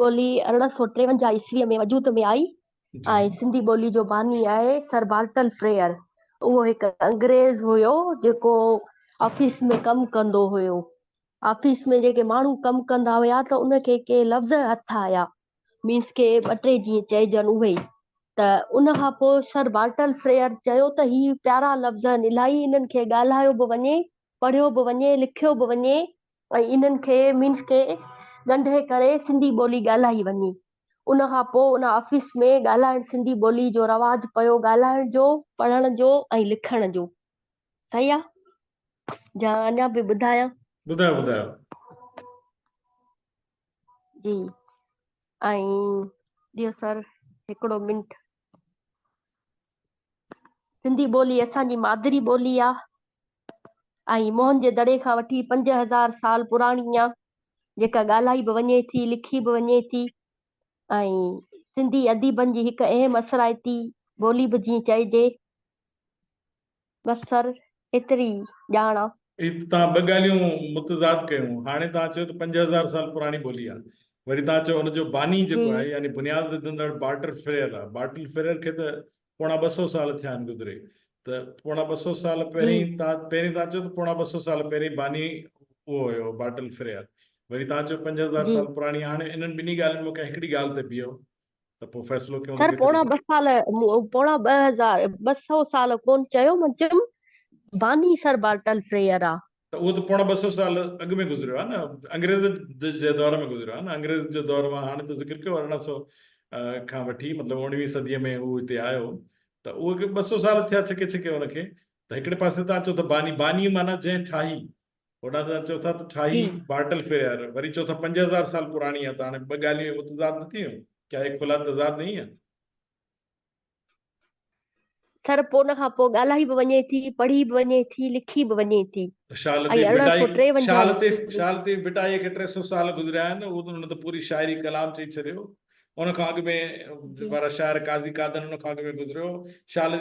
ٻولي ارڙهن سؤ ٽيونجاهه عيسويء ۾ وجود ۾ آئي جي ۽ سنڌي ٻولي جو باني آهي سر بارٽن فريئر. اهو هڪ انگريز هيو جيڪو آفيس ۾ ڪم ڪندو هيو. آفيس ۾ جيڪي ماڻهو ڪم ڪندا هيا ته ان کي ڪي لفظ هٿ آيا مينس ڪي ٻه ٽي جيئن چئجن اهي ته ان کان پوء سر بارٽن فريئر چيو ته هي پيارا لفظ آهن الائي انهن کي ڳالهايو به وڃي، پڙهيو به وڃي، لکيو به وڃي ۽ انهن کي مينس کي ڳنڍي ڪري سنڌي ٻولي ڳالهائي وڃي. ان کان پوء ان آفيس ۾ ڳالهائڻ سنڌي ٻولي جو رواج پيو ڳالهائڻ جو، پڙهڻ جو ۽ لکڻ جو. صحيح آ يا اڃا به ٻڌايان؟ ٻڌايو ٻڌايو. جي ۽ ڏيو سر هڪڙو منٽ. سنڌي ٻولي اسان جي مادري ٻولي آ ۽ موهن جي دڙي کان وٺي پنج هزار سال پراڻي آ جيڪا ڳالهائي به وڃي ٿي لکي به وڃي ٿي ۽ سنڌي اديبن جي هڪ اهم اثرائتي ٻولي به جيئن چئجي بصر ايتري ڄاڻ آ. هي ته توهان ٻه ڳالهيون متضاد ڪيون. هاڻي توهان چيو ته پنج هزار سال پراڻي ٻولي آ. وري توهان چيو ان جو باني جيڪو آهي يعني بنياد وڌندڙ بارٽر فريئر آ. بارٽل فريئر کي ته پوڻا ٻه سؤ سال ٿيا آهن گذري. ته پوڻا ٻه سؤ سال پهرين توهان پهرين توهان چيو ته پوڻا ٻه سؤ سال پهرين باني اهو هيو بارٽل فريئر. وري توهان چيو پنج هزار سال پراڻي. هاڻي انهن ٻنهي ڳالهين مان ڪنهن هڪڙي ڳالهه تي بيهو. ته پوء فيصلو ڪيون ته سر ڪيتري پوڻا ٻه سال مون پوڻا ٻه هزار ٻه سؤ سال ڪون چيو مان چيم باني سر بارٽل فريئر آ. ته اهو ته پوڻا ٻه سؤ سال اڳ ۾ گذريو آ نه انگريز جي دور ۾ گذريو آ نه انگريز جو دور مان هاڻي ته ذڪر ڪيو ارڙهن سؤ کان وٺي مطلب اوڻويهين صديء ۾ هو هتي آيو ته اهو ٻه سؤ سال ٿيا ڇڪي ڇڪي ان کي ته هڪڙي پاسي تان چئو ته باني باني معنيٰ جنهن ٺاهي هوڏانهن تان چئو ٿا ته ٺاهي بارٽل فيئر وري چئو ٿا پنج هزار سال پراڻي آهي ته هاڻي ٻه ڳالهيون متضاد نه ٿيون ڪيا هي کلا تضاد نهي آهي سر پوء ان کان پوء ڳالهائي به وڃي ٿي پڙهي به وڃي ٿي لکي به وڃي ٿي شال تي شال تي بٽائي کي ٽي سو سال گذريا آهن ان ته پوري شاعري ڪلام چئي ڇڏيو ان کان اڳ ۾ وارا شاعر قاضي قادن ان کان اڳ ۾ گذريو شال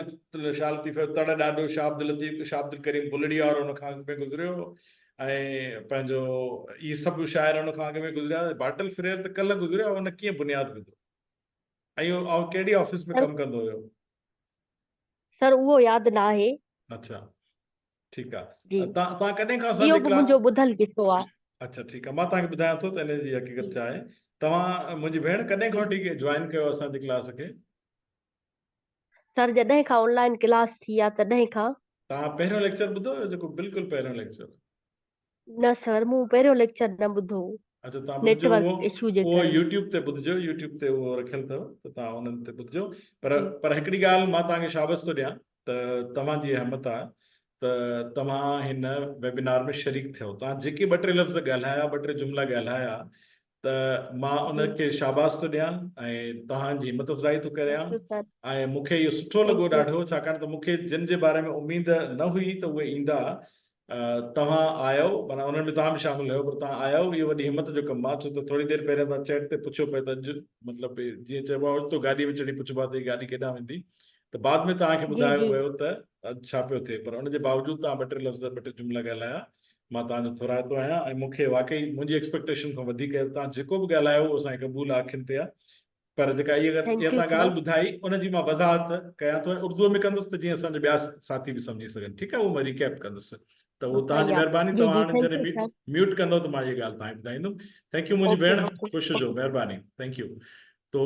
شال لطيف جو تڙ ڏاڍو شاھ عبداللطيف شاھ عبدالڪريم بلڙيا وارو ان کان اڳ ۾ گذريو ۽ پنهنجو اهي سڀ شاعر ان کان اڳ ۾ گذريا باٽل فريئر ته ڪلهه گذريو هو ان ڪيئن بنياد وڌو ۽ اهو ڪهڙي آفيس ۾ ڪم ڪندو هيو سر اهو ياد نه آهي اچھا ٺيڪ آ جي تان تان ڪڏهن کان اسان جي اهو به ڪلاس منهنجو ٻڌل قصو آ اڇا ٺيڪ آ مان تان کي ٻڌايان ٿو ته ان جي حقيقت ڇا آهي توهان منهنجي ڀيڻ ڪڏهن جي کان وٺي جوائن ڪيو اسان جي ڪلاس کي سر جڏهن کان آن لائن ڪلاس ٿي آ تڏهن کان تان پهريون ليڪچر ٻڌو هيو جيڪو بلڪل پهريون ليڪچر نه سر مون پهريون ليڪچر نه ٻڌو اچا تان ٻڌجو اهو نيٽورڪ اشو جي اهو ڪري يوٽيوب تي ٻڌجو يوٽيوب تي اهو رکيل اٿو ته تان انهن تي ٻڌجو پر جي پر هڪڙي ڳالهه مان تان کي شابس ٿو ڏيان ته توهان جي همت آهي ته توهان هن ويبنار ۾ شريڪ ٿيو تان جيڪي ٻه ٽي لفظ ڳالهايا ٻه ٽي جملا ڳالهايا ته مان ان کي شاباس ٿو ڏيان ۽ توهان جي همت افزائي ٿو ڪريان ۽ مون کي اهو سٺو لڳو ڏاڍو ڇاڪاڻ ته مون کي جن جي باري ۾ اميد نه هئي ته اهي ايندا توهان آيو مانا انهن ۾ توهان به شامل هيو پر توهان آيو اهو وڏي همت جو ڪم آهي ڇو ته ٿوري دير پهريان تان چيٽ تي پڇيو پئي ته اڄ مطلب جيئن چئبو آهي اوچتو گاڏي ۾ چڙهي پڇبو آهي ته گاڏي ڪيڏانهن ويندي ته بعد ۾ توهان کي ٻڌايو ويو ته اڄ ڇا پيو ٿئي پر ان جي باوجود توهان ٻه ٽي لفظ ٻه ٽي جملا ڳالهايا مان توهان جو ٿورائتو آهيان ۽ مون کي واقعي منهنجي ايڪسپيڪٽيشن کان وڌيڪ توهان جيڪو به ڳالهايو اهو اسان کي قبول آهي اکين تي آهي پر جيڪا اهي اهي Thank you توهان sir. ڳالهه ٻڌائي ان جي مان وضاحت ڪيان ٿو ۽ اردوء ۾ ڪندس ته جيئن اسان جا ٻيا ساٿي به سمجهي سگهن ٺيڪ آهي اهو مان ريڪيپ ڪندس ته اهو توهان جي صحيح آ. مهرباني جي توهان جي هاڻي ٿينڪ جڏهن يو مي- سر ميوٽ ڪندو ته مان اهي ڳالهه توهان کي ٻڌائيندم ٿينڪ يو منهنجي اوڪي ڀيڻ اوڪي خوش هجو مهرباني ٿينڪ يو تو